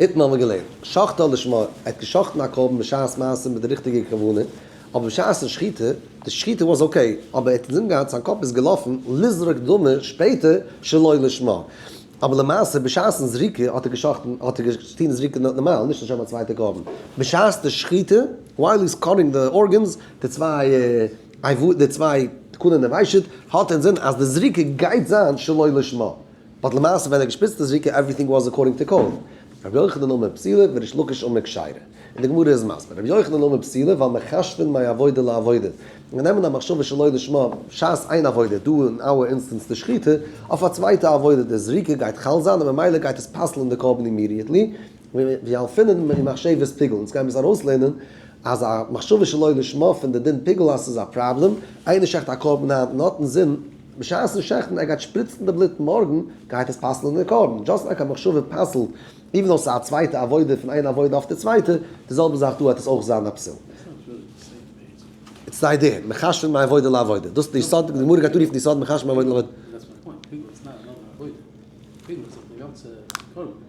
אונטן האבן מיר געלערנט, שחטא לשמה, ער האט געשחט'ן א קרבן בשעת מעשה מיט די ריכטיגע כוונה, אבער בשעת'ן שחיטה, די שחיטה וואס אקעי, אבער ער האט אינזין געהאט, זיין קאפ איז געלאפן לזרוק דמו שפעטער שלא לשמה, אבער למעשה בשעת'ן זריקה האט ער געשחט'ן, האט ער געטון זריקה נארמאל, נישט לשם א צווייטע קרבן. בשעת די שחיטה, ווייל איז קאטינג די ארגענס, די צוויי, די צוויי תקנון ער וויישעט, האט אינזין אז די זריקה גייט זיין שלא לשמה. באט למעשה ווען ער האט געשפיצט די זריקה עווריטינג וואס אקארדינג טו קאוו, רבי יוחנן אמר פסילה וריש לקיש אמר כשרה, און די גמרא איז מסביר רבי יוחנן אמר פסילה ווייל מחשבין מאי עבודה לעבודה, מיר נעמען א מחשבה שלא לשמה בשעת איין עבודה, דא אין אווער אינסטענס די שחיטה, אויף א צווייטע עבודה די זריקה גייט חל זיין און ממילא גייט עס פסל'ן די קרבן אימידיעטלי, מיר עפענען אין מחשבת פיגל, אונז גיימיר עס ארויסלערנען, אז א מחשבה שלא לשמה פון די דין פיגל אז ס'איז א פראבלעם, איינער שעכט א קרבן היינט און האט אינזין בשעת'ן שעכטן ער גייט שפריצן די בלוט מארגן, גייט עס פסל'ן די קרבן, דזשאסט לייק א מחשבה פסל'ט איווען דאו ס'איז א צווייטע עבודה פון איין עבודה אויף די צווייטע, די זעלבע זאך דא העט עס אויך זיין א פסול. איטס די איידיע, מחשב'ן מעבודה לעבודה, דאס איז די יסוד, די גמרא גייט אנרופן די יסוד מחשב'ן מעבודה לעבודה.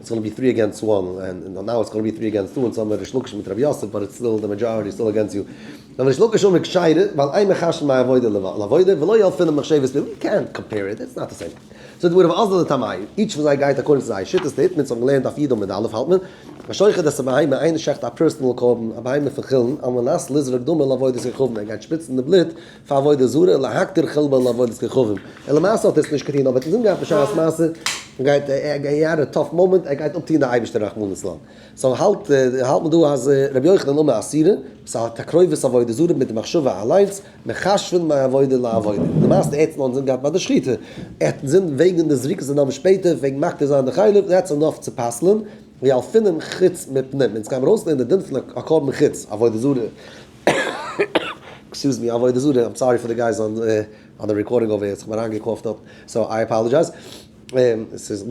איטס גאנא בי טרי עגענסט וואן, און נאו איטס גאנא בי טרי עגענסט טו, און סאו האבן מיר ריש לקיש מיט רבי יוסף, באט איטס סטיל די מעדזשאריטי איז סטיל עגענסט יו. נאר ריש לקיש האט מיר געשיידט ווייל איי מחשב מיי עבודה לעבודה ולא יהא אפילו מחשבת פיו, יו קענט קאמפעיר איט, איטס נאט די סעים. סאו די וועד האב אזל לטעמיו, איטש פון זיי גייט אקארדינג צו זייער שיטות טוט מען, אונז האבן געלערנט אויף ידו מיט אלף האלט מען, א שוחט דאס א בהמה, איינער שעכט א פערסענעל קרבן, א בהמה פון חולין, על מנת לזרוק דמו לעבודת רחבען, ער גייט שפיצן די בלוט, פאר עבודה זרה, להכתיר חלבו לעבודת כוכבים, און למעשה האט ער עס נישט געטון, אבער ער האט עס אנגעהאט בשעת מעשה, גייט ער, הי האד א טאף מאמענט, ער גייט אפטון די אייבערשטער רחמנא לצלן, סאו האלט האלט מען דא אז ר' יוחנן אמר אסירה, עס איז א תקרובת עבודה זרה מיט די מחשבה אליינס, מכשפין מעבודה לעבודה, למעשה ער האט עס נאר אינזין געהאט ביי די שחיטה, ער האט אינזין וועגן די זריקת הדם שפעטער, וועגן מקטיר זיין די חלב, און ער האט עס אנגעהאפט צו פסל'ען, ווי אלפים חוץ מפנים, אונז גיימיר אויסלערנען די דין פון א קרבן חוץ עבודה זרה. עקסקיוז מי, עבודה זרה, איים סארי פאר די גייס אן די רעקארדינג אויף עיר, איך האב מיר איינגעקאפט דארט, סאו איי אפאלאדזשייז, עס איז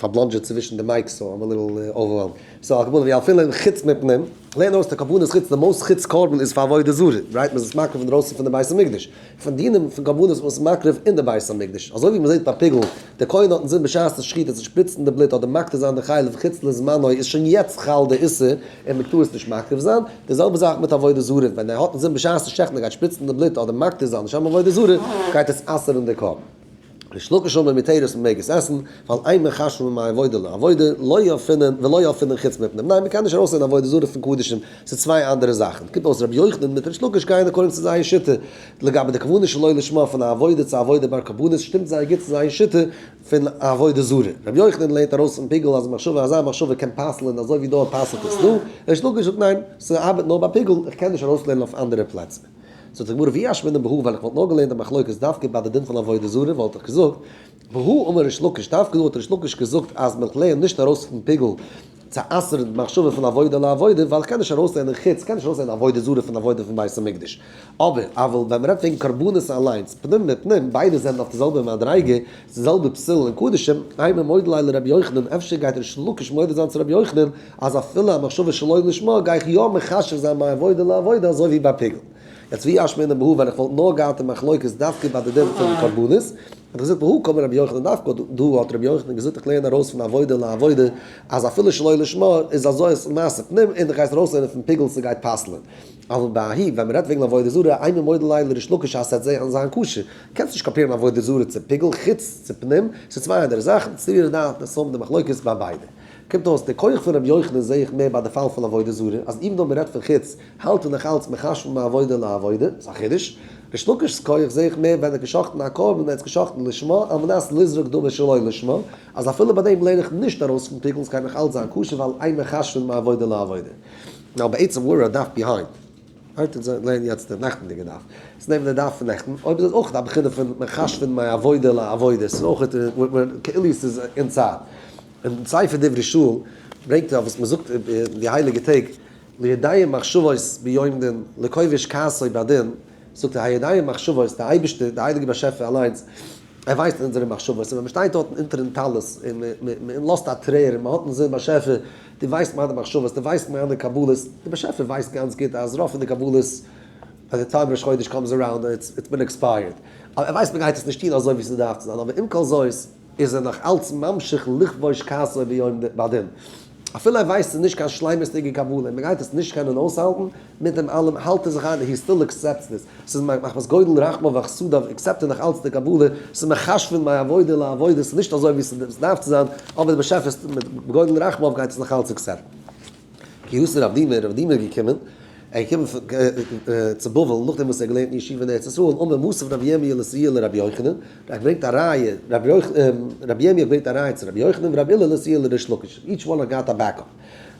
פארבלאנדזשעט צווישן די מייקס, סאו איים א ליטל אווערוועלמד, סאו על כל פנים ווי אפי' אין חוץ מפנים, לענ ד אויס די קרבנות חוץ די מאוסט חוץ קרבן איז פאר עבודה זרה, רייט מען איז עס מקריב אינדרויסן פון די בית המקדש, פון דינים פון קרבנות וואס איז מקריב אין די בית המקדש, אזוי ווי מ'זעט ביי פיגול, די כהן האט אינזין בשעת די שחיטה צו שפריצן די בלוט אדער מקטיר זיין די חלב חוץ לזמנו איז שוין יעצט חל די איסור און מ'טאר עס נישט מקריב זיין, די זעלבע זאך מיט עבודה זרה, ווען ער האט אינזין בשעת די שחט'ן ער גייט שפריצן די בלוט אדער מקטיר זיין לשם עבודה זרה, גייט עס אסר'ן די קרבן. ריש לקיש אומר מיט תירוץ מען מעג עס עסן ווייל אין מען חשוב מן העבודה לעבודה לא יאפינן ולא יאפינן חוץ מפנים ניין מען קען נישט ארויסנעמען עבודה זרה פון קדשים ס'איז צוויי אנדערע זאכן קומט אויס ר' יוחנן מיט ריש לקיש גייען אקארדינג צו זייער שיטה לגבי די כוונה שלא לשמה פון א עבודה צו עבודה בר קבנות שטימט זייער גוט צו זייער שיטה פון עבודה זרה ר' יוחנן לערנט ארויס פון פיגול אז מחשבה אזא מחשבה קען פסל'ען אזוי ווי דא פסל'ט עס דא ריש לקיש זאגט ניין ס'ארבעט נאר ביי פיגול איך קען נישט ארויסלערנען אויף אנדערע פלעצער. זאגט די גמרא ווי אשמע דעם בהא ווען איך וואלט נאר געלערנט די מחלוקת דווקא ביי די דין פון עבודה זרה וואלט איך געזאגט והוא אמר ריש לקיש דווקא דא האט ריש לקיש געזאגט אז מען לערנט נישט ארויס פון פיגול צו אסר'ן די מחשבה פון עבודה לעבודה ווייל כ'קען נישט ארויסלערנען חוץ כ'קען נישט ארויסלערנען עבודה זרה פון עבודה פון בית המקדש אבער אבער ווען מען רעדט וועגן קרבנות אליינס פנים בפנים ביידע זענען אויף די זעלבע מדריגה די זעלבע פסול אין קדישים, איי ממודליי לרבי יוחנן, אפשר גייט ריש לקיש מודה זיין צו רבי יוחנן אז אפילו א מחשבה שלא לשמה גיי איך יא מחשב זיין ביי עבודה לעבודה אזוי ווי ביי פיגול. יעצט ווי אש מעיני בהא ווען איך וואלט נאר געהאט א מחלוקת דווקא ביי די דין פון קרבנות, וואלט איך געזאגט והא קמא רבי יוחנן דווקא דא האט רבי יוחנן געזאגט איך לערן ארויס פון עבודה לעבודה אז אפילו שלא לשמה איז אזוי איז מעשה פנים און דו גייסט ארויסלערנען פון פיגול ס'גייט פסל'ען. אבל בהאי ווען מ'רעדט וועגן עבודה זרה, איי ממודליי לריש לקיש אז ס'עט זיין קשה. קענסט נישט קאפירן א עבודה זרה צו פיגול חוץ צו פנים, ס'איז צוויי אנדערע זאכן, סבירות דעת און סהמ די מחלוקת ביי ביידע. קומט אויס די כח פון ר' יוחנן זעה איך מער ביי די פאל פון עבודה זרה, אז איווען דאו מ'רעדט פון חוץ, האלט איך נאך אלץ מחשבון מעבודה לעבודה, ס'איז א חידוש. ריש לקיש'ס כח זעה איך מער ווען ער האט גע'שחט'ן א קרבן ווען ער האט עס גע'שחט'ן לשמה על מנת לזרוק דמו שלא לשמה, אז אפילו ביי דעם לערן איך נישט ארויס פון פיגול ס'גייט נאך אלץ זיין כשר ווייל איין מחשבון מעבודה לעבודה. נאו בעצם וואו אר דף ביהיינד. היינט און זיין לענ יעצט דער נעכטענדיגע דף איז נעבן די דף פון נעכטן, אויב איז עס אויך א בחינה פון מחשבון מיין עבודה לעבודה, עס איז אויך כאילו עס איז אין צייט. אין דעם ספר דברי שאול ברענגט ער אויף וואס מען זאגט אין די הייליגע טעג, לידיים מחשבות ביום דין לכובש כעסו בעדין, זאגט ער הידיים מחשבות, דער אייבערשטער, דער הייליגער באשעפער אליינס, ער ווייסט אונזערע מחשבות און ווען מ'שטייט דארטן אונטערן טלית און מ'לאזט א טרער און מ'האט אינזין באשעפער דו ווייסט מיינע מחשבות דו ווייסט מיינע קבלות, דער באשעפער ווייסט גאנץ גוט אז רוב פון די קבלות ביי די טיים ראש חודש קאמס אראונד און איטס בין עקספייערט אבער ער ווייסט מ'גייט עס נישט טון אזוי ווי ס'דארף צו זיין אבער עם כל זאת איז ער נאך אלץ ממשיך לכבוש כעסו ביום הדין אפילו ער ווייסט ס'איז נישט קיין שלימות'דיגע קבלה און מ'גייט עס נישט קענען אויסהאלטן. מיט דעם אלעם האלט ער זיך איין הי סטיל עקסעפטס דיס, ס'איז מחמת גודל רחמיו וחסדיו עקסעפט ער נאך אלץ די קבלה, ס'איז מחשבון מיין עבודה לעבודה, ס'איז נישט אזוי ווי ס'איז דארף צו זיין, אבער די באשעפער מיט גודל רחמיו גייט עס נאך אלץ עקסעפטן. גיוס רב דימער, רב דימער איז געקומען, ער איז געקומען צו בבל נאכדעם וואס ער האט געלערנט אין ישיבה אין ארץ ישראל, אמר מוסף רבי ירמי' לסייעא לרבי יוחנן, ער האט געברענגט א ראיה, רבי ירמי' האט געברענגט א ראיה צו רבי יוחנן ורבי הלל לסייעא לריש לקיש, איטש וואן האט געהאט א בעקאפ.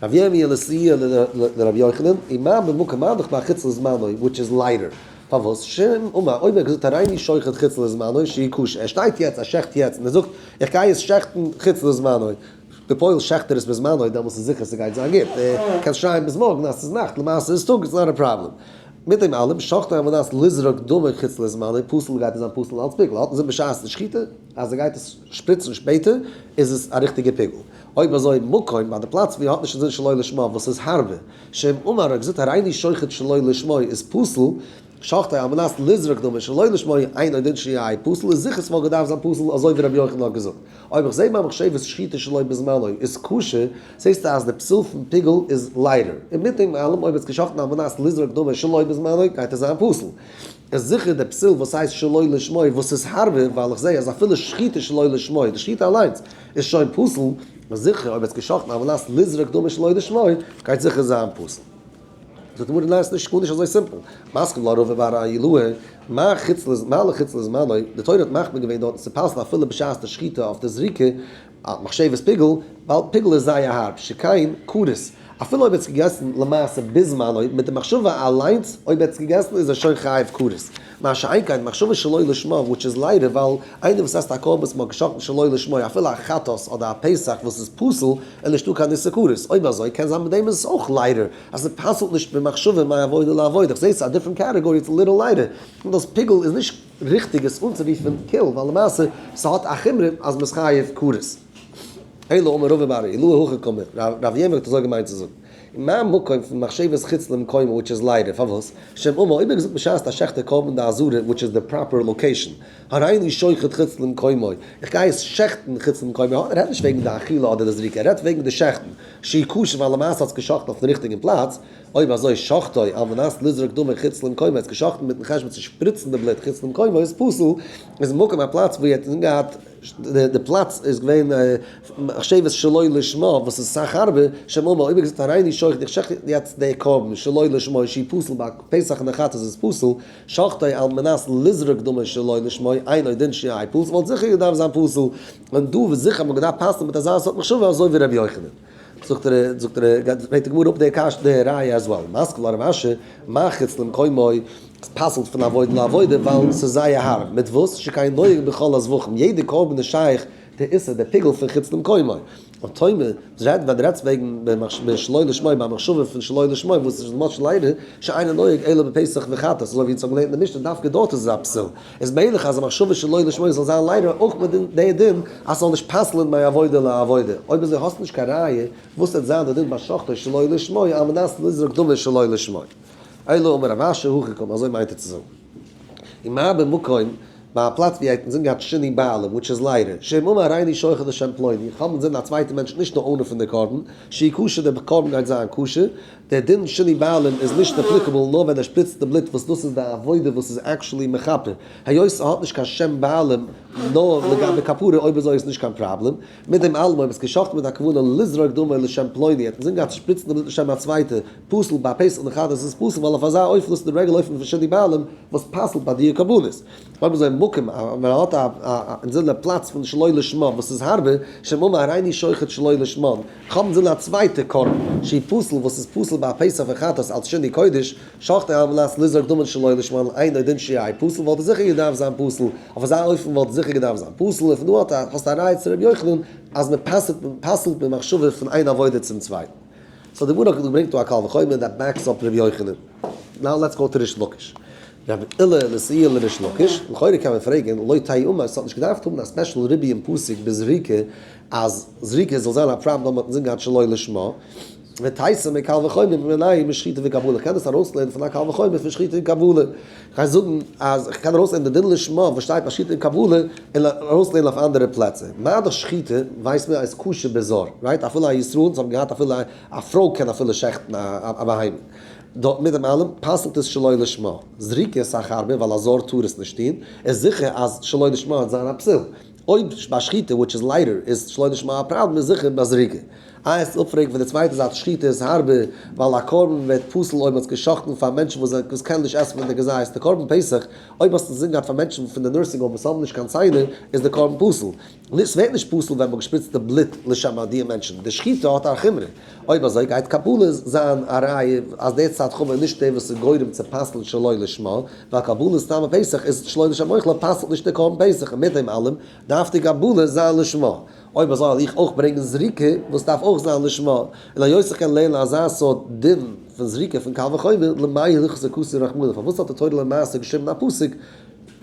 רבי ירמי' לסייע לרבי יוחנן, און מה במקום מה דכמר חוץ לזמנו, וויטש איז ליידער, פארוואס שום אמה, אויב ער האט געזאגט הריני שוחט חוץ לזמנו שהיא קושיא, ער שטייט יעצט ער שעכט יעצט און ער זאגט איך גיי עס שעכטן חוץ לזמנו, בפועל שעכט ער עס בזמנו, דעמאלס איז זיכער ס'גייט זיין גוט, קענסט שרייען ביז מארגן אז ס'איז נאכט, למעשה איז טאג, איטס נאט א פראבלעם. מיט דעם אלעם, שחטו על מנת לזרוק דמו חוץ לזמנו, פסול גייט עס זיין פסול אלץ פיגול, האט מען עס זען בשעת די שחיטה אז ער גייט עס שפריצן שפעטער איז עס א ריכטיגע פיגול. אויב אזוי מקום ביי די פלאץ ווי ער האט נישט אינזין שלא לשמה וואס איז הארבה שם אמר ער האט געזאגט הריני שוחט שלא לשמה איז פסול שוחטי על מנת לזרוק דמו שלא לשמה אינו דין שיהי' פסול איז זיכער ס'וואלט געדארפט זיין פסול אזוי ווי רבי יוחנן האט געזאגט אויב כ'זעה ביי מחשבת שחיטה שלא בזמנו איז כשר זעסטו אז די פסול פון פיגול איז ליידער און מיט דעם אלעם אויב ער האט עס גע'שחט'ן על מנת לזרוק דמו שלא בזמנו גייט עס זיין פסול איז זיכער די פסול וואס הייסט שלא לשמה וואס איז הארבה ווייל כ'זעה אז אפילו שחיטה שלא לשמה די שחיטה אליינס איז שוין פסול, און זיכער אויב וועט געשאכטן א ולאסט לזרוק דמים שלא לשמו גייט זיכער זיין פסול. זאגט די גמרא ניין ס'נישט גארנישט אזוי סימפל, מסכים לא רב ובא ראיה לו, מה חוץ מה לחוץ לזמנו, די תורה האט מחמיר געווען דארטן ס'פסל אפילו בשעת די שחיטה אויף די זריקה, מחשבת פיגול, ווייל פיגול איז זייער הארב, שכן כרת. אפילו אויב ער האט עס געגעסן למעשה ביז זמנו מיט די מחשבה אליינס אויב ער האט עס געגעסן איז ער שוין חייב כרת, מה שאין כן מחשבה שלא לשמה וויטש איז ליידער ווייל איינער וואס עסט א קרבן וואס מען האט געשאכטן שלא לשמה אפילו א חטאת אדער א פסח וואס איז פסול איז נישטא קיין איסור כרת, אויב אזוי קען זיין מיט דעם איז עס אויך ליידער אז עס פסל'ט נישט במחשבה מעבודה לעבודה, כ'זעה עס איז א דיפרענט קעטעגארי איטס ליטעל ליידער און דאס פיגעל איז נישט ריכטיג עס אנצורופן קיל ווייל למעשה ס'האט א חומרא אז מ'איז חייב כרת. אלא אמר רבא בר ר אילו הכא קאמר ר' אברהם האט אזוי געמיינט צו זאגן און מיין מקום פון מחשבת חוץ למקומו וויטש איז ליידער פארוואס שם אמו אויב ער האט געזאגט בשעת א שחטה קרבן די עזרה וויטש איז די פראפער לאקעישאן הריני שוחט חוץ למקומו איך גיי עס שעכטן חוץ למקומו ער רעדט נישט וועגן די אכילה אדער די זריקה ער רעדט וועגן די שעכטן שהיא קשה ווייל למעשה האט עס געשאכטן אויפן ריכטיגן פלאץ אויב אזוי שחטו על מנת לזרוק דמו חוץ למקומו ער האט עס געשאכטן מיטן חשבון צו שפריצן די בלוט חוץ למקומו איז פסול איז מקום א פלאץ וואו ער האט געהאט די פלאץ איז געווען מחשבת שלא לשמה וואס איז סאך הארבע, שם אמר אויב ער געזאגט הריני שוחט איך שחט יעצט די קרבן שלא לשמה איז שי פסול ביי פסח נחת איז עס פסול שחטו על מנת לזרוק דמו שלא לשמה אינו דין שי פסול וואלט זיכער געדארפט זיין פסול און דא וואס זיכער האט מען געדארפט פסל'ן מיט אזא סארט מחשבה אזוי ווי ר' יוחנן. זאגט ר זאגט ר גייט פרעגט די גמרא אפ די קש די ראיה אז וואו משכיל הרב אשר מחוץ למקומו עס פסל'ט פון עבודה לעבודה ווייל ס'איז זייער הארב מיט וואס שכן נוהג בכל הזבחים יעדע קרבן איז שייך די איסור די פיגול פון חוץ למקומו און תומר זרעט ווען רעדסט וועגן במחשבה שלא לשמה ביי מחשבה פון שלא לשמה וואס איז משל ליידער שאינו נוהג אלא בפסח וחטאת אזוי ווי אונז האבן געלערנט אין די משנה דווקא דארט איז עס א פסול. איז מעגליך אז א מחשבה שלא לשמה זאל זיין ליידער אויך מיט די דין אז ס'זאל נישט פסל'ן מיין עבודה לעבודה? אויב אזוי האסטו נישט קיין ראיה וואס וועט זיין די דין ביי שחטא שלא לשמה על מנת לזרוק דמו שלא לשמה. אלא אמר רב אשר הכי קמא אזוי מיינט ער צו זאגן. און מה במקום ביי א פלאץ ווי ער האט אינזין געהאט שני בעלים וויטש איז ליידער שם אמר הריני שוחט לשם פלוני כ'האב אינזין א צווייטע מענטש נישט די אונער פון די קרבן שיהיה כשר די קרבן גייט זיין כשר דער דין שני בעלים איז נישט עפליקעבל נאר ווען ער שפריצט די בלוט וואס דאס איז די עבודה וואס איז עקשעלי מכפר היות ס'האט נישט קיין שם בעלים נאר לגבי כפרה אויב אזוי איז נישט קיין פראבלעם מיט דעם אלעם אויב האט גע'שחט'ט מיט א כוונה לזרוק דמו לשם פלוני האט אינזין געהאט שפריצן די בלוט לשם א צווייטע פסול ביי פסח נכרת איז עס פסול ווייל אויף אזא עוף לאזט די רגל אויפן פון שני בעלים וואס פסל'ט ביי דיע קרבנות האבן זיי מקום א ווען מען האט א אינזינער פלאץ פון שלא לשמה וואס איז הארבע שם אמר הריני שוחט שלא לשמה איך האב אינזינער א צווייטע קרבן שהיא פסול וואס איז פסול ביי א פסח און חטאת אלץ שני קודש שחט ער על מנת לזרוק דמן שלא לשמה על אינו דין שהיא פסול וואלט ער זיכער געדארפט זיין פסול אויף אזא אופן וואלט ער זיכער געדארפט זיין פסול און פון דא האט האסטו א ראיה צו ר' יוחנן אז מען פסל'ט מען מחשבה פון איין עבודה צום צווייטן סאו די גמרא געברענגט דא א קל וחומר דעט בעקס אפ ר' יוחנן נאו לעטס גאו טו ריש לקיש. רבי אלעא מסעי' לריש לקיש, לכאורה קען מען פרעגן, לא תהי' אומה, עס האט נישט געדארפט האבן א ספעשל רבי און פסוק בזריקה אז זריקה זאל זיין א פראבלעם אויב מען האט נישט געהאט שלא לשמה, ותעשה מקל וחומר ממנין משחיטה וקבלה, איך קען דאס ארויסלערנען פון א קל וחומר פון שחיטה און קבלה, איך גיי זאגן אז איך קען ארויסלערנען די דין לשמה וואס שטייט ביי שחיטה און קבלה און ארויסלערנען אויף אנדערע פלעצער, מה דאס שחיטה ווייסט מען אז כשר בזהר, רייט? אפילו א ישראל, זיי האבן געהאט אפילו א פרוי קען אפילו שעכטן א בהמה. דארט מיט דעם אלעם פסל'ט עס שלא לשמה, זריקה איז סאך הארבער ווייל א זר טאר עס נישט טון, איז זיכער אז שלא לשמה וועט זיין א פסול, אויב ביי שחיטה וויטש איז ליידער איז שלא לשמה א פראבלעם איז זיכער ביי זריקה. איי עס אפפרעגן פון די צווייטע זייט שחיטה איז הארבער ווייל א קרבן ווערט פסול אויב מען האט עס געשאכטן פאר מענטשן וואס זענען וואס קענען נישט עסן פון די געזייעסטע קרבן פסח, אויב האסט עס אינזין געהאט פאר מענטשן פון די נורסינג האום וואס האבן נישט קיין ציינער איז די קרבן פסול, און עס ווערט נישט פסול ווען מען האט געשפריצט די בלוט לשם ביי דיע מענטשן, די שחיטה האט א חומרא, אויב אזוי גייט קבלות זיין א ראיה אז דער צד חמור איז נישט דער וואס איז גורם צו פסל'ן שלא לשמה, ווייל קבלות טעם אויף פסח איז שלא לשם אויך לא פסל'ט נישט דער קרבן פסח און מיט דעם אלעם דארף די קבלות זיין לשמה, אויב אזוי וועל איך אויך ברענגען זריקה וואס דארף אויך זיין לשמה, און היות איך קען לערנען אזא סארט דין פון זריקה פון קל וחומר, למאי הלכות הכסוי רחמנא פארוואס האט די תורה למעשה געשריבן א פסוק,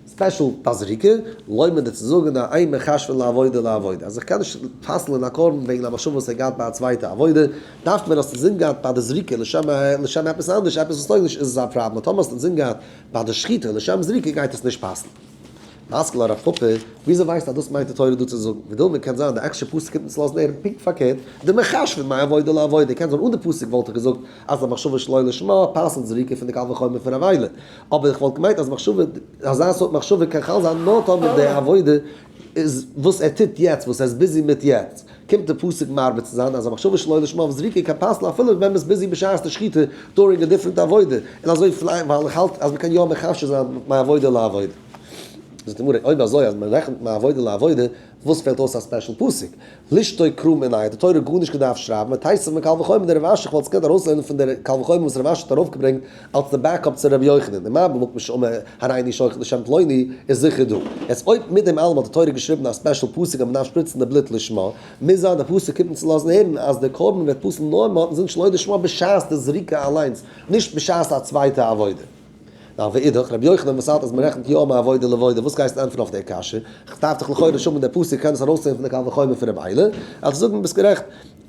ספעשל ביי זריקה, לויב מען דיר צו זאגן א איין מכשפין לעבודה לעבודה, אז איך קען נישט פסל'ען א קרבן וועגן א מחשבה וואס ער האט געהאט ביי א צווייטע עבודה, דארף מען אז ס'איז אינגאט ביי די זריקה לשם לשם עפעס אנדערש עפעס וואס טויג נישט איז עס א פראבלעם טאמער ס'איז אינגאט ביי די שחיטה לשם זריקה גייט עס נישט פסל'ן. משכיל הרב פאפא, וויאזוי ווייסטו אז דאס מיינט די תורה דא צו זאגן? ווידעראום קען זיין די עקסטשע פסוק קומט אונז לויזן הערן פונקט פארקערט, די מכשפין מעבודה לעבודה, קען זיין אן די פסוק וואלט איך געזאגט אז א מחשבה שלא לשמה פסל'ט זריקה פון די קל וחומר פון א וויילע, אבער איך וואלט געמיינט אז מחשבה, אזא סארט מחשבה קען חל זיין נאר טאמער די עבודה איז וואס ער טוט יעצט, וואס ער איז ביזי מיט יעצט. קומט די פסוק מרבה צו זיין אז א מחשבה שלא לשמה וואס זריקה קיין פסל אפילו ווען מען איז ביזי בשעת די שחיטה דורינג א דיפרענט עבודה, און אזוי פלעין ווייל איך האלט אז מען קען יא מחשב זיין מעבודה לעבודה. זאגט די גמרא, אויב אזוי אז מען רעכנט מעבודה לעבודה וואס פעלט אויס א ספעשל פסוק? לשתו קרא מנין האט די תורה גארנישט געדארפט שרייבן? מען טייסט זיך מקל וחומר די רב אשי כ'וואלט עס געקענט ארויסלערנען פון דער קל וחומר וואס רב אשי האט ארויפגעברענגט אלס די בעקאפ צו ר' יוחנן אין מיין בלאט משא כ הריני שוחט לשם פלוני איז זיכער דא יעצט אויב מיט דעם אלעם האט די תורה געשריבן א ספעשל פסוק אז מען דארף שפריצן די בלוט לשמה מוז זיין די פסוק קומט אונז צו לאזן הערן אז די קרבן וועט פסל'ן נאר מען האט עס נישט שלא לשמה בשעת די זריקה אליינס נישט בשעת א צווייטע עבודה. ווייל ואידך, רבי יוחנן וואס האלט אז מען רעכנט יא מעבודה לעבודה, וואס גייסטו ענטפערן אויף די קשיא? איך דארף דיך לכאורה שומען די פסוק קען עס ארויסציען פון די קל וחומר פון רב איילער, וועל איך זאגן ביסט גערעכט,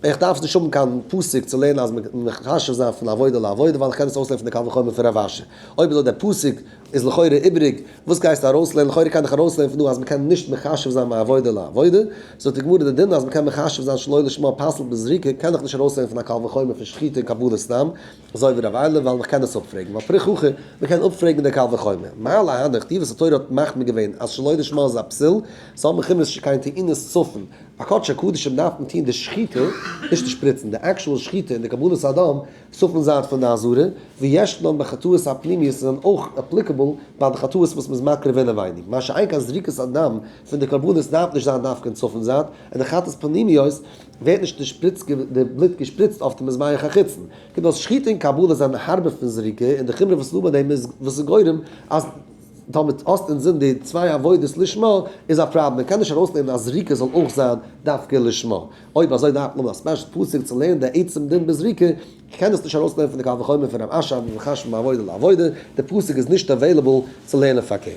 איך דארף נישט האבן קיין פסוק צו לערנען אז מען מען מחשב זיין פון עבודה לעבודה ווייל איך קען עס אויסלערנען פון די קל וחומר פון רב אשי, אויב איז דא די פסוק איז לכאורה איבעריג וואס גייסטו ארויסלערנען, לכאורה קען איך ארויסלערנען פון דא אז מען קען נישט מחשב זיין מעבודה לעבודה, זאגט די גמרא די דין אז מען קען מחשב זיין שלא לשמה פסול בזריקה קען איך נישט ארויסלערנען פון א קל וחומר פון שחיטה און קבלת סתם, אזוי ווי ר' אלי' ווייל מען קען עס אפפרעגן, ווייל פרי חכי מען קען אפפרעגן די קל וחומר, מה להנא כתיב אז התורה האט מחמיר געווען אז שלא לשמה איז א פסיל, סא האט מען כמעט נישט קיין טענות צפון א קדש הקדשים דארף מען טוהן די שחיטה, נישט די שפריצן, די עקשועל שחיטה און די קבלת אדם צפון זייט פון די אזהרה, ויש להם בחטאות הפנימיות איז דען אויך אפליקעבל ביי די חטאות וואס מען איז מקריב אינעווייניג, מה שאין כן זריקת הדם פון די קרבנות דארף נישט זיין דווקא אין צפון זייט, און די חטאת פנימיות ווערט נישט די שפריץ די בלוט געשפריצט אויף די מזבח החיצון. קומט אויס שחיטה און קבלה זענען הארבער פון זריקה, און די חומרא וואס לעומת דעם איז וואס איז גורם אז דאמאלט האסט אינזין די צוויי עבודות לשמה איז א פראבלעם. מען קען נישט ארויסלערנען אז זריקה זאל אויך זיין דווקא לשמה. אויב אזוי דארף מען האבן א ספעשל פסוק צו לערנען די עצם דין בזריקה. איך קען דאס נישט ארויסלערנען פון די קל וחומר פון רב אשי אבן חשמל מעבודה לעבודה. די פסוק איז נישט עוועילעבל צו לערנען פארקערט.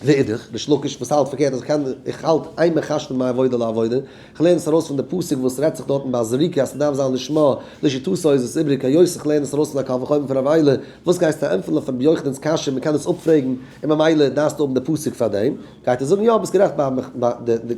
ואידך, ריש לקיש וואס האלט פארקערט אז כ'קען איך האלט איין מחשבון מעבודה לעבודה, איך לערן עס ארויס פון די פסוק וואס רעדט זיך דארטן ביי זריקה אז ס'דארף זיין לשמה, לשיטתו איז עס איבריג היות איך לערן עס ארויס פון א קל וחומר פון רב איילער, וואס גייסטו ענטפערן אויף רבי יוחנן'ס קשיא מען קען עס אפפרעגן און ממילא דארפסטו האבן די פסוק פאר דעם, גייט ער זאגן יא ביסט גערעכט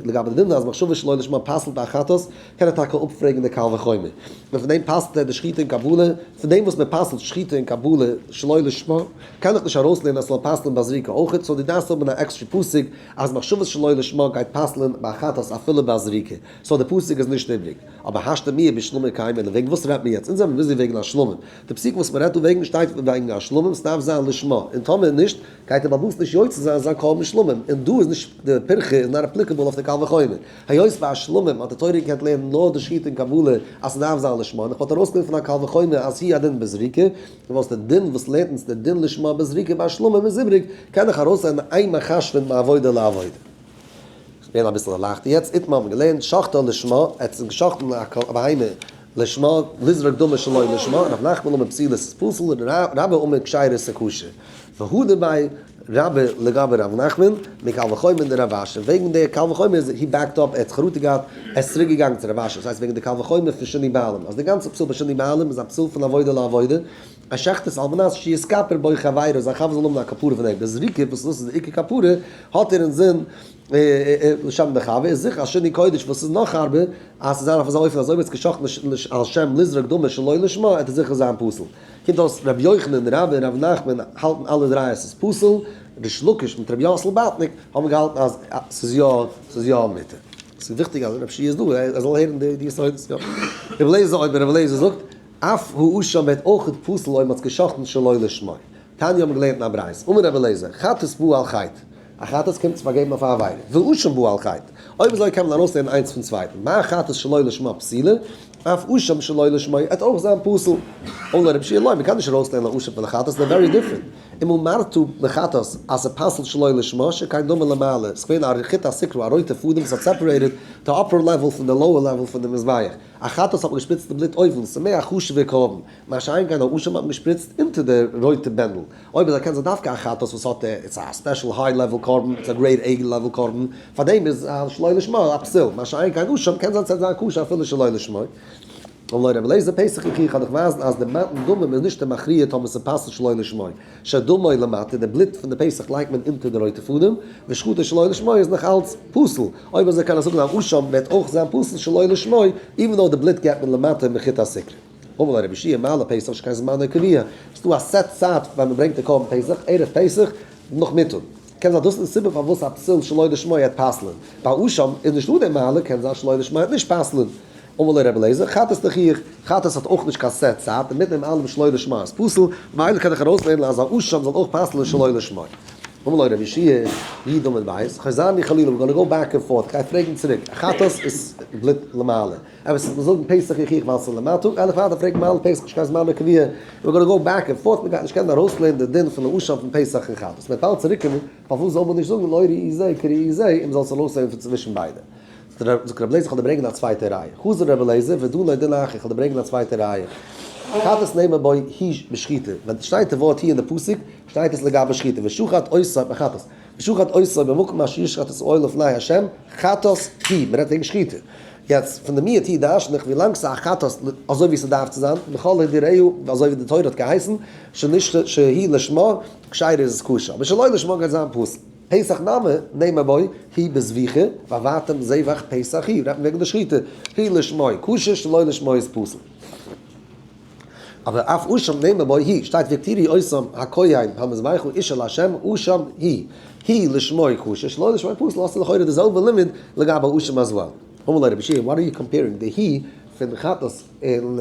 לגבי די דין אז מחשבה שלא לשמה פסל'ט א חטאת, קען ער טאקע אפפרעגן די קל וחומר, און פון דעם פסל'ט ער די שחיטה און קבלה, פון דעם וואס מען פסל'ט שחיטה און קבלה שלא לשמה. קען איך נישט ארויסלערנען אז ס'זאל פסל'ן ביי זריקה אויכעט, סאו דו דארפסט האבן אן עקסטרע פסוק אז מחשבות שלא לשמה גייט פסל'ן ביי חטאת אפילו ביי זריקה, סאו די פסוק איז נישט איבריג. אבער השתא מיה בשלמים קיימא לוועגן וואס רעדט מען יעצט? אונז זעמיר ביזי וועגן השלמים. די פסוק וואס מ'רעדט דא וועגן שטייט וועגן השלמים, ס'דארף זיין לשמה, און טאמער נישט גייט ער באוואוסט נישט יוצא זיין זיין קרבן שלמים, און דא איז נישט די פירכא איז נאט אפליקעבל אויף די קל וחומר. היות ביי השלמים האט די תורה געקענט לערנען נאר די שיטה אין קבלה אז ס'דארף זיין לשמה, און איך וואלט ארויסגענומען פון א קל וחומר אז היא הדין בזריקה, דו ווילסט א דין וואס לערנט אונז די דין לשמה בזריקה ביי שלמים איז איבריג, קען איך ארויסלערנען איין מחש פון מעבודה לעבודה. כ'בין אביסל ערלייכטער יעצט, איתמר האט מיר געלערנט שחטא לשמה, ער האט גע'שחט'ן א בהמה לשמה, לזרוק דמו שלא לשמה, ר' נחמן אומר פסילות איז פסול, רבא אומר כשרות איז כשר, והוא דבעי. רבה לגבי ר' נחמן, מקל וחומר די רב אשר, וועגן די קל וחומר איז הי בעקד אפ, ער האט זיך חרטה געהאט, ער איז צוריק געגאנגען צו רב אשר, דאס הייסט וועגן די קל וחומר פון שני בעלים, אז די גאנצע פסול ביי שני בעלים איז א פסול פון עבודה לעבודה, ער שחט עס על מנת שיתכפר בו חברו אז זיין חבר זאל האבן א כפרה פון אים, די זריקה וואס דאס איז די עיקר כפרה האט ער אינזין לשם די חבר, איז זיכער אז שני קודש וואס איז נאך ארבער, אז ס'זיין אויף אזא אופן אז אויב ער האט עס געשחט על שם לזרוק דמו שלא לשמה, עט עס זיכער זיין פסול. קומט אויס רבי יוחנן רבי און רבי נחמן האלטן אלע דריי אז ס'איז פסול, ריש לקיש מיט רבי יאסל באטניק האבן געהאלטן אז ס'איז יא ס'איז יא מותר. ס'איז וויכטיג אז רב שי איז דא ער זאל הערן די יסודות יא. רבי אליעזר אויב רבי אליעזר זאגט אף האשה ווערט אויכעט פסול אויב מ'האט זיך געשחט'ן שלא לשמה. תניא האבן געלערנט אין א ברייתא, אמר רבי אליעזר חטאת באה על חטא א חטאת קומט צו פארגעבן אויף א עבירה, והואשם בו על חטא, אויב אזוי קען מען ארויסלערנען איינס פון צווייטן, מה החטאת שלא לשמה פסילה, אף הואשם שלא לשמה עט אויך זיין פסול. אולי רב שיע לוי, מען קען נישט ארויסלערנען א הואשם פון א חטאת, זיי ווערי דיפרענט. אם אמרתו לחטאת אז ס'פסול שלא לשמה, שכן דומה למעלה, ס'געווען א חוט השקרא, א רויטע פאדעם וואס האט סעפערעיטעד די אפער לעוועל פון די לאוער לעוועל פון די מזבח. א חטאת האט מען געשפריצט די בלוט אויבן, ס'מער א חשוב'ער קרבן. מה שאין כן האושם האט געשפריצט אונטער די רויטע בענדל, אויב איז ער קענסער דווקא א חטאת וואס האט ער, איז עס א ספעשל היי לעוועל קרבן, איז עס א גרעיד עי לעוועל קרבן, פארדעם איז זיין שלא לשמה א פסול, מה שאין כן אושם קען זיין ס'עט זיין כשר אפילו שלא לשמה. און לויט רבי אליעזר פסח איך איך אדורך ווייזן אז די מתן דמים איז נישט די מכריע טאמער ס'פאסט שלא לשמה, שדמו למטה די בלוט פון די פסח לייגט מען אונטער די רויטע פאדעם, ושחוטה שלא לשמה איז נאך אלץ פסול, אויב אזוי קען ער זאגן אז אושם ווערט אויך זיין פסול שלא לשמה, איווען דאו די בלוט געבט מען למטה מחוט השקרה. אמאל א רבי שיע מעלה פסח נישט קיין זמן הקביעה, ס'איז דא א סעט צייט פאר מען ברענגט די קרבן פסח, ערב פסח נאכמיטאג, קען זיין דאס איז די סיבה פארוואס א פסול שלא לשמה העט פסל'ען, ביי אשם איז נישטא די מעלה, קען זיין שלא לשמה העט נישט פסל'ען. אמאל א רבי אליעזר חת ס תחיח, חת ס האט אויך נישט קיין סעט צייט, און מיטן דעם אלעם שלא לשמה איז פסול, ממילא קען איך ארויס לערנען אז א אשם זאל אויך פסל'ען שלא לשמה. אמאל א רבי שיע י דמן בית, כ'הער זיין ני חלילה, ווי גאנא גאו בעק ענד פארט, כ'גיי פרעגן צוריק, א חת ס איז בליט למעלה. אבער ס'איז געזאגן פסח יוכיח ועל סלע מאתו, גייען דאך ווייטער פרעגן מהלך פסח נישט קיין זמן הקביעה, ווי גאנא גאו בעק ענד פארט, מ'גייט נישט קענען ארויסלערנען די דין פון לעשן פון פסח און חטאת, מ'וועט אלץ צוריק קומען, פארוואס זאל מען נישט זאגן לא ראי זה כראי זה און מ'זאל עס ארויסלערנען פון צווישן ביידע. זאגט רבי אליעזר כ'וועל דיר ברענגען א צווייטע ראיה. חזר רבי אליעזר ודו לא דינא אחי כ'וועל דיר ברענגען א צווייטע ראיה. חטאת נאמר בו הי' בשחיטה, ווען ס'שטייט די ווארט הי' אין די פסוק, שטייט עס לגבי שחיטה, ושחט עשו בחטאת, ושחט עשו במקום אשר ישחט את העול לפני ה', חטאת הי', מ'רעדט וועגן שחיטה. יעצט, פון די מי את אי דרשן איך ווי לאנג ס'איז א חת ס אזוי ווי ס'דארף צו זיין, לכל העדה רעהו, אזוי ווי די תורה האט געהייסן, שנשתה שהיא לשמה, כשרה איז עס כשר, אבער שלא לשמה גייט זיין פסול. פסח נמי, נעימה בוי, היא בזביחה, ואבדתם זבח פסח היא, רעדט מען וועגן די שחיטה, היא לשמה כשר שלא לשמה איז פסול. אבער אויף אשם נאמר בו היא שטייט ותראי אשם הכהן המזבח הוא איש אל ה' אשם היא היא לשמו חושש לא לשמו פסול האסט לכאורה די זעלבע לימוד לגבי אשם אז וועל. אמר לו רבי ש וואט אר יו קאמפערינג די היא פון חטאת און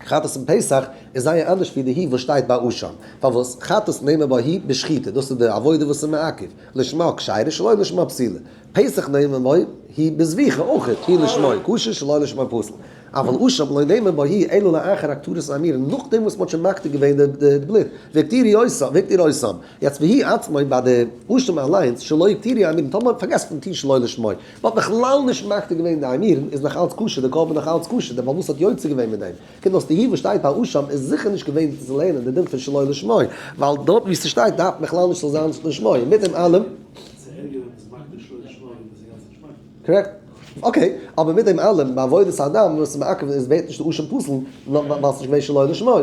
חטאת און פסח איז זייער אנדערש ווי די היא וואס שטייט ביי אשם פארוואס חטאת נאמר בו היא בשחיטה דאס איז די עבודה וואס איז מעכב לשמה כשרה שלא לשמה פסולה פסח נעימה מאי היא בזביחה אויך היא לשמי כשר שלא לשמי פסל, אבל אשם לא נעימה בו היא אלא לאחר הקטורת האמיר נאכדעם וואס מ'האט שוין מקטיר געווען די בלוט והקטירי אויסם והקטיר אויסם, יעצט והיא עצמאי ביי די אשם אליינס שלא הקטירי האמירן טאמער מ'האט פארגעסן פון טוהן שלא לשמי מ'האט בכלל נישט מקטיר געווען די האמירן איז נאכאלץ כשר די קרבן איז נאכאלץ כשר די באלמוס האט יוצא געווען מיט דעם. קומט אויס די הי וואס שטייט ביי אשם איז זיכער נישט געווען צו לערנען די דין פון שלא לשמה, ווייל דארט וואו ס'שטייט דארף בכלל נישט צו זיין לשמה, און מיט דעם אלעם. קארעקט. אקעי, אבער מיט דעם אלעם ביי עבודת האדם וואס איז מעכב איז ווערט נישט די אשם פסול נאר ווייל ס'איז געווען שלא לשמה.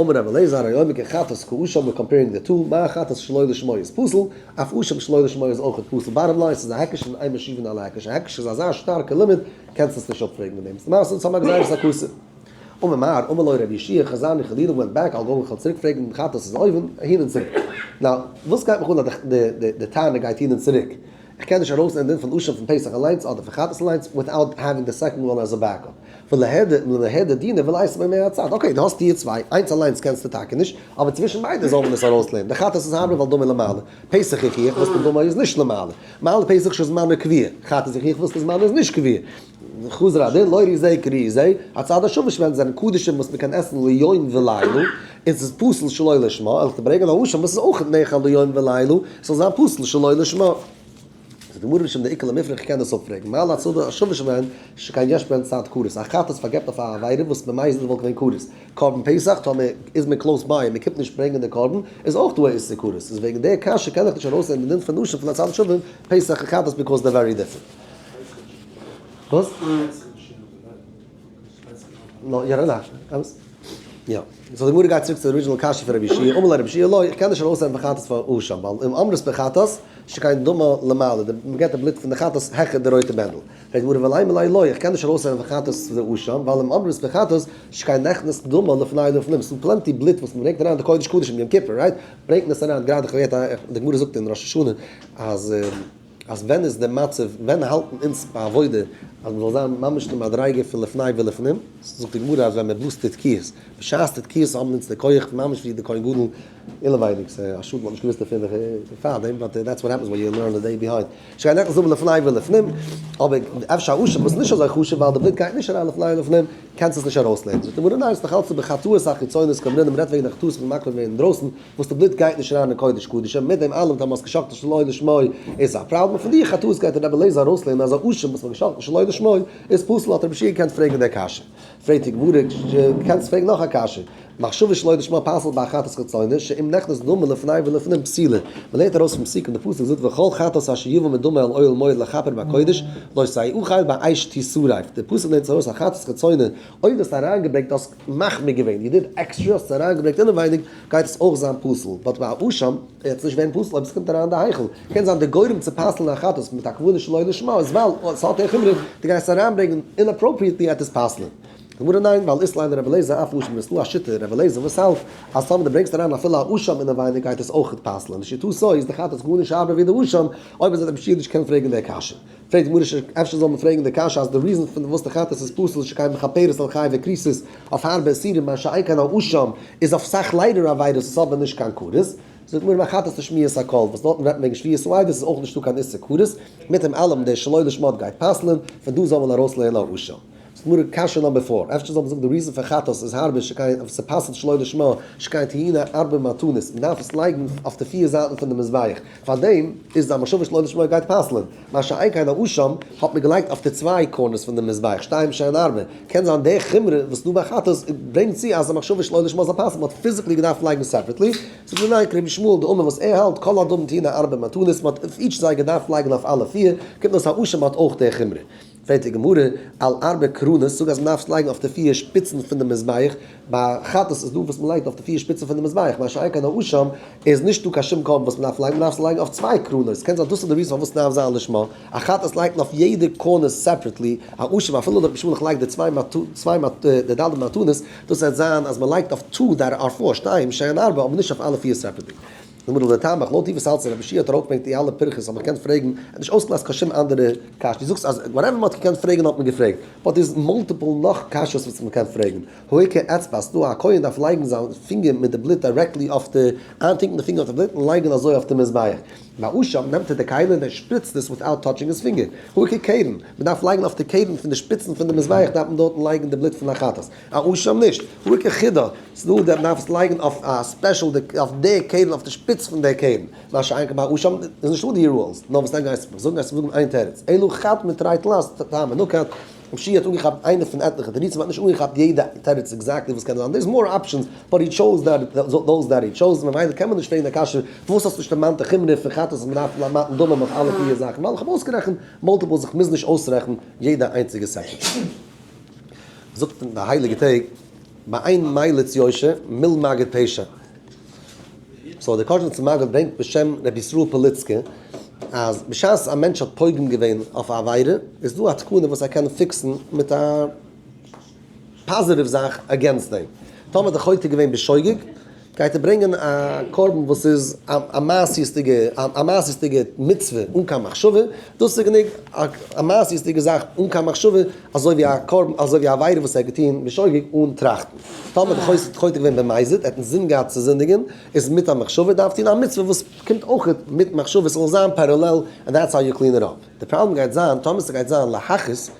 אמר רבי אלעזר א יומי כ חטאת כאשם ווער קאמפערינג די טו, מיין חטאת שלא לשמה איז פסול, אויף אשם שלא לשמה איז אויכעט פסול, באטאם ליין ס'איז א הקש און איין משיבין על ההקש, א הקש איז אזא שטארקע לימוד. קענסט עס נישט אפפרעגן מיט דעם, ס'מעשה און ס'מאכט זייער סארקאסע. אמר מר. אמר לו ר' ישעי' חזני חלילה ווענט בעק אל גאו כ'וועל צוריק פרעגן דעם חתס איז אויבן אהין און צוריק. נאו וואס גייט מיך אן אז די טענה גייט אהין און צוריק, כ'קען נישט ארויסלערנען דין פון אשם פון פסח אליינס אדער פון חתס אליינס וויטאוט העווינג די סעקאנד וואן עז א בעק אפ. ולהד ולהד דינא ולייסע ביי מער א צד. אקעי דו האסט טיער צוויי, איינס אליינס קענסטו טאקע נישט, אבער צווישן ביידע זאל מען עס ארויסלערנען, די חתס איז הרבה ווייל דא מען למעלה, פסח איך איך וואס מיט דא מען איז נישט למעלה. מעל פסח שזמנו קביע, כאפט איר זיך איך וויל ס'זמן איז נישט קביע. חזר הדין, לא ריזי כריזי, הצד השמש ווען עס זענען קדשים וואס מ'קען עסן ליום ולילה, און ס'איז פסול שלא לשמה, על'ך דיר ברענגען א לשון וואס איז אויך נאכל ליום ולילה, ס'זאל זיין פסול שלא לשמה. זאגט די גמרא בשם די עיקר למפרע כ'קען דאס אפפרעגן, מעל הצד השמש ווען ס'איז שוין קיין יש בענד צייט כרת, א חטאת פארגעבט אויף א עבירה וואס ממילא וואלט געווען כרת, קרבן פסח טאמער איז מען קלאוס ביי און מען קומט נישט ברענגען די קרבן איז אויך דא א איסור כרת איז וועגן די קשיא קען איך נישט ארויס נעמען די דין פון נשים פון א צד שווים פסח און חתס ביקאוס דער ווערי דיפרענט. ר' מורי ורבי מלא אלוה איך קען נישט ארויס זען וחטאת זה אשם ווייל אום אמרות בחטאת שקיין נכנס דמו לפני לפנים ס'איז פלענטי בלוט וואס מ'ברענגט אריין די קודש קדשים יום כיפור רייט ברענגט מען עס אריין גראדע כ'האב געהערט די גמרא זאגט אין ראש השנה אז אז ווען איז די מצב ווען האלטן אונז ביי עבודה אז מ'זאל זיין ממש די מדריגה פון לפני ולפנים זאגט די גמרא אז ווען מ'בלאזט די תקיעות בשעת די תקיעות האבן אונז די כח ממש ווי די כהן גדול אינעווייניג ס'איז א שאד מ'האט נישט געוואוסט דערפון פארדעם באט דעטס וואט העפענס ווען יו לערן א דעי ביהיינד. שכן איך זאג לפני ולפנים, אבער אפשר א אשם וואס איז נישט אזוי חשוב ווייל די בליק גייט נישט אריין לפני ולפנים, קענסט עס נישט ארויסלערנען. זאגט די גמרא ניין, ס'דאך אלץ איבער חטאות החיצונית, כמ נ מ'רעדט וועגן די חטאות פון מקריב ווערן אינדרויסן, וואס די בלוט גייט נישט אריין אין קודש קדשים, מיט דעם אלעם טאמער האסט גע'שחט'ט שלא לשמה איז עס א פראבלעם, פון די חטאות גייט רבי אליעזר ארויסלערנען אז א אשם וואס מ'האט גע'שחט'ט שלא לשמה איז פסול, האט רבי שי געקענט פרעגן די קשיא. פרעגט יגבורי ש, דו קענסט פרעגן נאך א קשיא, מחשבה שלא לשמה פסל'ט ביי א חטאת חיצוני, שאם נכנס דמא לפני ולפנים פסילה, מ'לערנט ארויס פון פסוק און די פסוק זאגט וכל חטאת אשר יבא מדמא אל אוהל מועד לכפר בקודש, לא סייעו חיל ביי אייש ט שרף, די פסוק לערנט ארויס א חטאת חיצוני, אויב האסטו אריינגעברענגט האסט מחמיר געווען, יו דיד עקסטרע האסטו אריינגעברענגט אינעווייניג, גייט עס אויך זיין פסול, באט ביי א אשם וועט עס נישט ווערן פסול אויב עס קומט אריין אין די היכל, קען זיין די גורם צו פסל'ן א חתס מיט א כוונה שלא לשמה איז ווייל עס האט א חומרא, די גייסט אריינברענגען אינאפראפריעטלי וועט עס פסל'ן? גמרא, ניין, ווייל איסלאם און רבי אליעזר אויף אשם איז נאר א שיטה רבי אליעזר וואס האלט אז טאמער די ברענגסט אריין אפילו א אשם אינעווייניג גייט עס אויך פסל'ן, לשיטתו איז די חתס גארנישט ארבער ווי די אשם, אויב איז ער די משיח נישט קען פרעגן די קשיא. פרעגט גמרא ש, אפשר זאל מען פרעגן די קשיא אז די ריזאן פון די וואס די חטאת איז פסול שכן מכפרת על חי וכריסות אויף הארבע איסורים מה שאין כן על אשם איז אויף סאך ליידער עבירות איז אבער נישט קיין כרת, זאגט גמרא ביי חטאת לשמיעת הקול וואס דארטן רעדט מען וועגן שביעות לב איז עס אויך נישטא קיין איסור כרת, מיט דעם אלעם דער שלא לשמות גייט פסל'ען, פון דא זאל מען ארויסלערנען על אשם. ס'איז נאר א קשיא נאמבער פאר. אפשר זאל מען זאגן די ריזן פאר חטאת איז הרבה שקיין אויף ס'פאסט שלא לשמה שקיין טעינה ארבע מתנות מען דארף עס לייגן אויף די פיר זייטן פון די מזבח פארדעם איז די המחשבה שלא לשמה גייט פסל'ן מה שאין כן א שם האט מען געלייגט אויף די צוויי קארנערס פון די מזבח שתיים שאין הרבה קען זיין די חומרא וואס דא ביי חטאת ברענגט צו אז די מחשבה שלא לשמה זאל פסל'ן מען האט פיזיקלי געדארפט לייגן סעפערעטלי זאגט מען ניין כרבי שמואל די אמר וואס ער האלט כל אדם טעינה ארבע מתנות מען האט אויף איטש זיי געדארפט לייגן אויף אלע פיר קומט אויס א שם האט אויך די חומרא. זעט די גמרא על ארבע קרונות, זאג אז מען דארף עס לייגן אויף די פיר שפיצן פון די מזבח, ביי חטאת איז דא וואס מען לייגט אויף די פיר שפיצן פון די מזבח, מה שאין כן האשם איז נישטא קיין שום קרבן וואס מען דארף לייגן, מען דארף עס לייגן אויף צוויי קרונות, קען זיין דאס איז די ריזן פארוואס נאר זיין לשמה, א חטאת לייגט מען אויף יעדע קרן סעפרעטלי, האשם אפילו דארט משמלך לייגט די צוויי די ד' מתנות, דאס וועט זיין אז מען לייגט אויף טו די ארבעה שתיים שעין ארבע אבער נישט אויף אלע פיר סעפרעטלי. לומר לטעמך, לויט די וואס אלס רבי שיע האט ארויפגעברענגט די אלע פירכות האט מען געקענט פרעגן, ער האט נישט אויסגעלאזט קיין שום אנדערע קשיא, די זאגסט אז וואטעווער מען האט געקענט פרעגן האט מען געפרעגט, באט דא איז מאלטיפעל נאך קשיות וואס מען קען פרעגן, העיקר אצבעת, דא א כהן דארף לייגן זיין פינגער מיט די בלוט דירעקטלי אויף די, איינטונקן די פינגער אויף די בלוט און לייגן אזוי אויף די מזבח, ביי שם נעמט ער די כלה און ער שפריצט עס וויטאוט טאטשינג היז פינגער, העיקר קרן, מען דארף לייגן אויף די קרן פון די שפיצן פון די מזבח דארף מען דארטן לייגן די בלוט פון החטאת. א רושם נישט, רוקח חידא, ס'איז דא די דארפסט לייגן אויף א ספעשל די אויף די קערן אויף די שפיץ פון די קערן, מה שאין כן ביי א רושם איז נישטא די רולס, נאר וואס גייסטו מיך זאגן גייסטו זאגן איין תירוץ, אלא חד מטרית לן אז טעם מנוקד, רב שיע האט אנגעכאפט איינע פון עטליכע תירוצים האט נישט אנגעכאפט יעדע תירוץ עקזעקטלי וואס קען זיין, דעירס מאר אפשענס באט הי טשאוז דאוז דעט הי טשאוז ממילא קען מען נישט פרעגן די קשיא פארוואס האסט נישט דערמאנט די חומרא פון חטאת אז מ'דארף למתן דמים אויף אלע פיהר זאכן ווייל איך האב אויסגערעכנט מאלטיפעל זיך מוזן נישט אויסרעכן יעדע איינציגע סעקונדע. זאגט אין די הייליגע טעג מאין מיילת יושע מיל מגד פשע. סאו דער קאזשניצער מגיד ברענגט בשם רבי ישראל פאליצקע אז בשעת א מענטש האט פוגם געווען אויף א עבירה איז דא א תקנה וואס ער קען פיקסן מיט א פאזיטיוו זאך אגעינסט דעם. טאמער האט דער חוטא געווען בשוגג. גייט ער ברענגען א קרבן וואס איז א מעשיות'דיגע א מעשיות'דיגע מצוה אן קיין מחשבה, דאס איז גענוג א מעשיות'דיגע זאך אן קיין מחשבה, אזוי ווי א קרבן אזוי ווי א עבירה וואס ער האט געטון בשוגג אן טראכטן. טאמער די חוזה האט חוטא געווען במזיד, ער האט אינזין געהאט צו זינדיגען, איז מיט א מחשבה, דארף טון א מצוה וואס קומט אויך מיט מחשבה, ס'זאל זיין פערעלעל, ענד דעטס האו יו קלין איט אפ. די פראבלעם גייט זיין טאמער ס'גייט זיין להכעיס,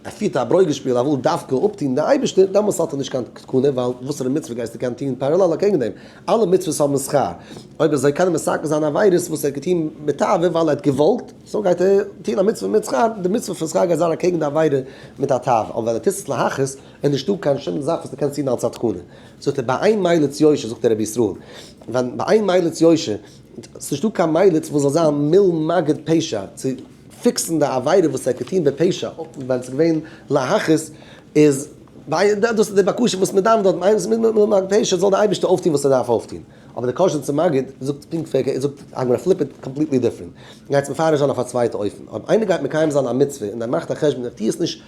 ער פירט א ברוגז שפיל ער וויל דווקא אפטון די אייבערשטער, דעמאלטס האט ער נישט קיין תקנה ווייל וואסערע מצוה גייסטו קענען טון פערעלעל אקעגן דעם, אלע מצוות האבן שכר, אויב אזוי קען ער מסכל זיין עבירות וואס ער האט געטון בתאווה ווייל ער האט געוואלט, סאו גייט ער טון א מצוה מיט שכר, די מצוה פון שכר גייט זיין אקעגן די עבירה מיט א תאווה, אבער ווען ער טוט עס להכעיס איז נישטא קיין שום זאך וואס דו קענסט טון אלץ א תקנה, זאגט ער ביי איין מליץ יושר זאגט דער רבי ישראל ווען ביי איין מליץ יושר ס'איז נישטא קיין מליץ וואס זאל זיין מיל מגיד פשע צו פיקסן די עבירה וואס ער האט געטון בפשע, אויב ווען ס'איז געווען להכעיס איז ווייל דאס איז די בקשה וואס מען דארף דארט, איינס מיט מיט מיין פשע זאל די אייבערשטער אויפטון וואס ער דארף אויפטון, אבער די קשיא צום מגיד זאגט פונקט פארקערט, זאגט הגמרא פליפ איט קאמפליטלי דיפרענט, גייטס מפרש זיין אויף א צווייטע אופן, אויב איינער גייט מקיים זיין א מצוה און ער מאכט א חשבון ער טוהט עס נישט,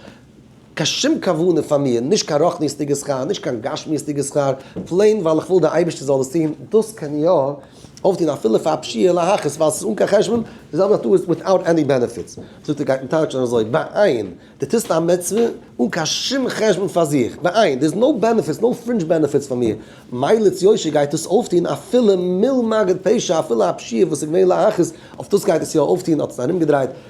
קיין שום כוונה פאר מיר, נישט קיין רוחניות'דיגע שכר, נישט קיין גשמיות'דיגע שכר, פלעין ווייל איך וויל דער אייבערשטער זאל עס טון, דאס קען איך יא אויפטון אפילו פאר א פשיעה להכעיס ווייל עס איז אן קיין חשבון, די זעלבע זאגט אויס וויטאוט עני בענעפיטס, זאגט ער גייט און טייטשט און אזוי, בעיין, די טוסט א מצוה אן קיין שום חשבון פאר זיך, בעיין, דער איז נאו בענעפיטס, נאו פרינדזש בענעפיטס פאר מיר, מיילעץ יושר גייט דאס אויפטון אפילו מיל מגעת פשע, אפילו א פשיעה וואס איז געווען להכעיס, אויף דאס גייט עס יא אויפטון, האט עס ארומגעדרייט.